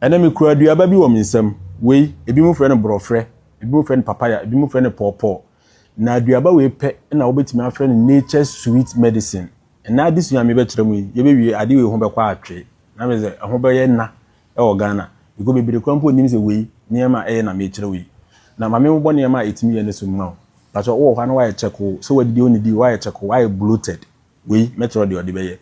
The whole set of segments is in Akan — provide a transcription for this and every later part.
Ɛnnɛ mikura aduaba bi wɔ me nsam. Wei, ebinom frɛ no borɔferɛ, ebinom frɛ no papaya, ebinom frɛ no pɔɔpɔɔ. Na aduaba wei pɛ na wobetumi afrɛ no nature's sweet medicine. Ɛnnɛ adesua a mebɛkyerɛ mo yi, yɛbɛwie ade wei ho bɛkɔ atwe. Na mese sɛ, ɛho bɛyɛ na wɔ Ghana, because bebree koraa mpo nnim sɛ wei, nneɛma a ɛyɛ na merekyerɛ wo yi. Na ma menbobɔ nneɛma a ɛtumi yɛ no so mma wo. Pakyɛ, wowɔ hɔ a na woayɛ kyɛkoo, sɛ woadidi a wonnidii, woayɛ kyɛkoo, woayɛ bloated. Wei mɛkyerɛw deɛ ɔde bɛyɛ.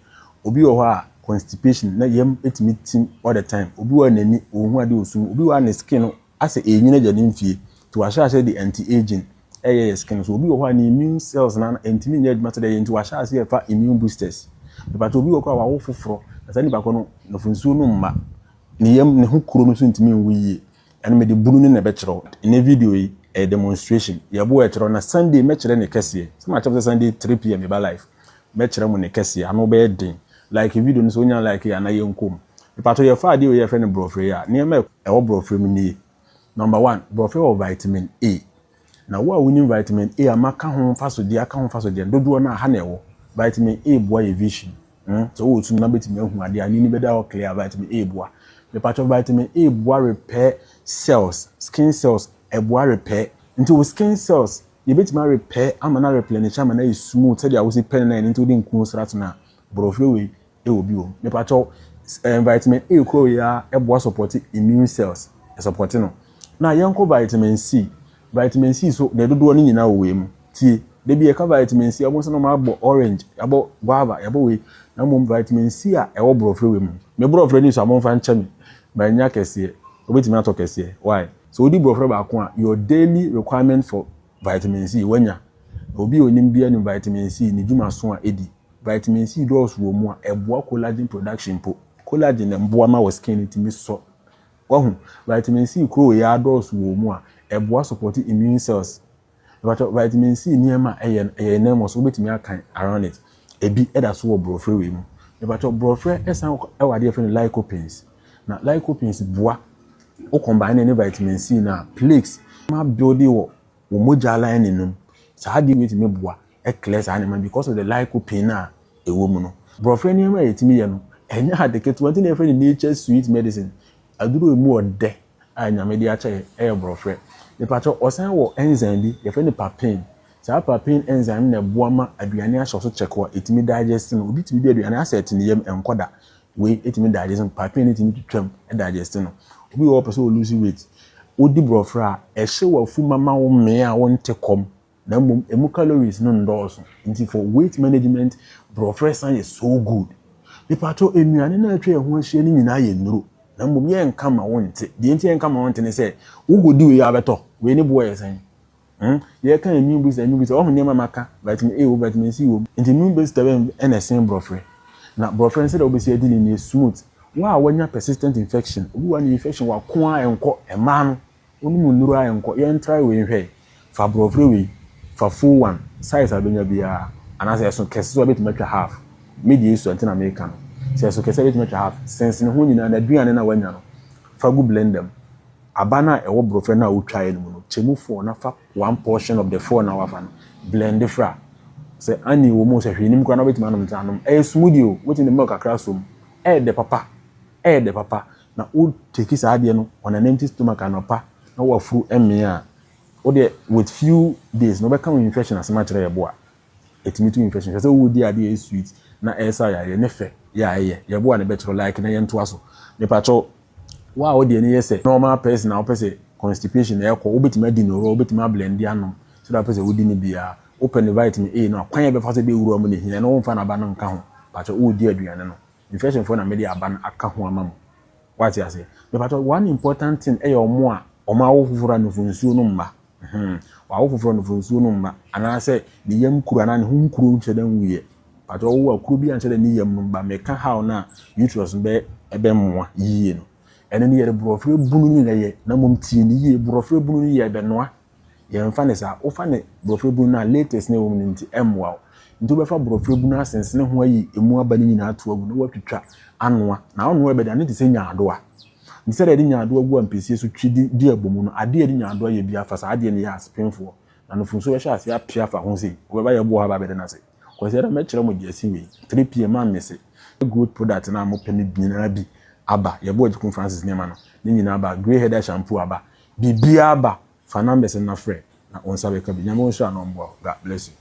Obi wɔ hɔ a constipation na yam tumi tim all the time, obi wɔ hɔ a n'ani ɔnhu ade ɔsum mu, obi wɔ hɔ a ne skin no asɛ ɛrenyini agya ne mfie nti wahyɛ aseɛ de anti aging ɛyɛ yɛ skin no so, obi wɔ hɔ a ne immune cells no ano ɛntumi nyɛ adwuma sɛdeɛ ɛyɛ nti wahyɛ aseɛ ɛfa immune boosters. Mepakyɛw obi wɔ hɔ koraa a wawo foforɔ na saa nipa korɔ no nafo nsuo no mma ne yam ne ho kuro no nso ntumi nwu yie Ɛno mede bunu no na ɛbɛkyerɛ wo. Nnɛ video yi, ɛyɛ demonstration. Yɛbo a ɛkyerɛ wo na Sunday mɛkyerɛ ne kɛseɛ. Sɛ makyerɛ mo sɛ Sunday 3pm meba live, mɛkyerɛ mo ne kɛseɛ. Ano bɛyɛ den. Like video no sɛ wonya like a na yɛnkɔ mu. Mepakyɛw yɛfa adeɛ wei a yɛfrɛ no borɔferɛ yi a, nneɛma a ɛwɔ borɔferɛ mu nie. Number one, borɔferɛ wɔ vitamin A. Na wo a wonim vitamin A a maka ho mfasodeɛ aka ho mfasodeɛ no dodoɔ no a, ha na ɛwɔ. Vitamin A boa yɛ vision. Hmm, sɛ wowɔ sum na wobɛtumi ahu adeɛ a, n'ani bɛda hɔ clear a, vitamin A boa. Mepakyɛ, vitamin A boa repair cells, skin cells, ɛboa repair. Nti wo skin cells, yɛbɛtumi a repair ama no a replenish ama no ayɛ smooth sɛdeɛ wosi pɛ no na ɛno nti wode nkuo sra so no a, borɔfrɛ wei ɛwɔ bio mepakyɛw eh, vitamin A koro yɛ a ɛboa sɔpɔte immune cells ɛsɔpɔte no na yɛnkɔ vitamin C vitamin C so deɛ dodoɔ no nyinaa wɔ wei mu tie da bi yɛka vitamin C ɔmo sɛ na ɔmo abɔ orange yɛabɔ guava yɛabɔ wei na mmom vitamin C a ɛwɔ borɔfrɛ wei mu me borɔfrɛ ni so a momfa nkyɛ me manya kɛseɛ wobɛtumi atɔ kɛseɛ why sɛ wodi borɔfrɛ baako a your daily requirement for Vitamin C, Wanya? Obi a onim biara nim vitamin C, ne dwumaso a edi. Vitamin C dɔɔso wɔ mu a, ɛboa collagen production mpo. Collagen na ɛboa ma wo skin no tumi sɔ. Wahu? Vitamin C koro yi ara dɔɔso wɔ mu a, ɛboa support immune cells. Mepakyɛw, vitamin C nneɛma a ɛyɛ no, ɛyɛ yɛn ananmu so, wobɛtumi akan around it? Ebi da so wɔ borɔferɛ wei mu. Mepakyɛw, borɔferɛ san wɔ adeɛ a yɛfrɛ no lycopenes. Na lycopenes boa Wo combine ne ne vitamin C no a plaques ma build wɔ wo mogya lining no mu. Saa adeɛ wei tumi boa clear saa nneɛma no because of the lycopene a ɛwɔ mu no. Borɔferɛ nneɛma a yɛtumi yɛ no, ɛnyɛ ade ketewa nti na yɛfrɛ no nature's sweet medicine. Aduro a ɛmu ɔdɛ a Nyame de akyɛ yɛn yɛ borɔferɛ. Mepakyɛw, ɔsan wɔ enzyme bi, yɛfrɛ no papain. Saa papain enzyme no na ɛboa ma aduane ahyɛ wo so kyɛkoo a ɛtumi digest no. Obi tumi di aduane asɛ ɛte ne yam, ɛnkɔ da. Wei ɛtumi digest no, pathway no ɛtumi twitwam digest no. Obi wɔ hɔ ɔpɛ sɛ ɔ lose weight, wodi borɔferɛ a, ɛhyɛ w'afu ma ma wo mmee a wonte kɔm na mmom ɛmu calories no nnɔɔso. Nti for weight management, borɔferɛ san yɛ so good. Mepakyɛw, nnuane no a atwa yɛn ho ahyia no nyinaa yɛ nnuro na mmom yɛnka ma wonte. Deɛ nti a yɛnka ma wonte ne sɛ, wokɔdi wei a wobɛtɔ. Wei ne boɔ yɛ sɛn? Hmm? Yɛka yɛ new booster, new booster. Wɔn nneɛma ma ka vitamin A wɔ vitamin C wɔ mu. Nti new booster bɛn ɛna ɛsen borɔfrɛ. Na borɔfrɛ no sɛdeɛ wobɛsi adi no yɛ smooth. Wɔn a wɔnya persistent infection, obi wɔ ne infection wɔ ako a ɛnkɔ, mmaa no, wɔnom nnuro a ɛnkɔ. Yɛn try wei nhwɛ. Fa borɔfrɛ wei, fa full one, size a bɛnya biara. Anaasɛ ɛso kɛse so a bɛtumi atwa half. Me deɛ esua nti na meka no. Sɛ ɛso kɛse a bɛtumi atwa half. Sensene ho nyinaa na aduane no a wanya no, fa gu blender mu. Aban a ɛwɔ brɔfrɛ no a wotwaeɛ no mu no, kyɛ mu four na fa one portion of the four no a wafa no blend fra. Sɛ honey wɔ mu o, sɛ hwee nnim koraa na wobɛtumi anom nsa anom. Ɛyɛ smoothie o, wobɛtumi de milk kakra asɔ mu. Ɛyɛ dɛ papa, ɛyɛ dɛ papa. Na wo take saa adeɛ no on an empty stomach anɔpa na woafuru mmee a, wo deɛ with few days no wobɛka wo infection asɛm akyerɛ yɛn boa. Ɛtumi tu infection. Hwɛ sɛ wo di adeɛ a ɛyɛ sweet na ɛsa yareɛ ne fɛ yɛ a ɛyɛ. Yɛ boa na bɛkyerɛ like na yɛntoa so. Mepakyɛw wo a wodeɛ no yɛ sɛ normal person a wopɛ sɛ constipation na ɛkɔ wobɛtumi adi no raw wobɛtumi ablendi anom sɛdeɛ wopɛ sɛ wodi no biara. Wopɛ no vitamin A no a kwan a ɛbɛfa so de awura mu na ɛhia ɛno womfa n'aba no nka ho. Pakyɛw woredi aduane no infection foɔ na mede aba no aka ho ama mo. Woate aseɛ. Mepakyɛw one important thing ɛyɛ wɔn a wɔn awo foforɔ a nufoɔ nsuo no mma Hum. Wawo foforɔ no fo nsuo no mma anaasɛ ne yam kuro anaa ne ho nkuro nkyɛ dɛ nwuiɛ. Mpakyɛ wowo a kuro biara nkyɛ dɛ ne yam no mma. Meka how no a uterus no bɛ ɛbɛ mmoa yie no. Ɛno no yɛde borɔferɛ bunu no na ɛyɛ na mmom tie me yie borɔferɛ bunu no yɛ ɛbɛ noa. Yɛ mfa no saa. Wofa ne borɔferɛ bunu no a latex na ɛwɔ mu no nti ɛmmoa wo. Nti wobɛfa borɔferɛ bunu asensene ho ayi ɛmu aba no nyinaa ato agu na woatwitwa anoa. Na wonoa ɛbɛ de a ne te sɛ nyaadoa. Nti sɛdeɛ yɛde nyaadoa gu ampesie so twi de di abɔ mu no, adeɛ a yɛde nyaadoa yɛ biara fa saa adeɛ no yɛ ase pemfoɔ, na nufosuo bɛhyɛ aseɛ ape afa ho sei, ɔbɛba yɛn boɔ hɔ aba abɛda no ase. Kwasiada mɛkyerɛ mo gyasi wei, 3PM a mese yɛ growth product no a mopɛ no nyinaa bi aba, yɛbo Agyekum Francis nneɛma no ne nyinaa aba, grey headed shampoo aba, biribiara aba, fa numbers no na frɛ na wo nsa bɛka bi. Nyame wo nhyira na ɔmboa wo. God bless you.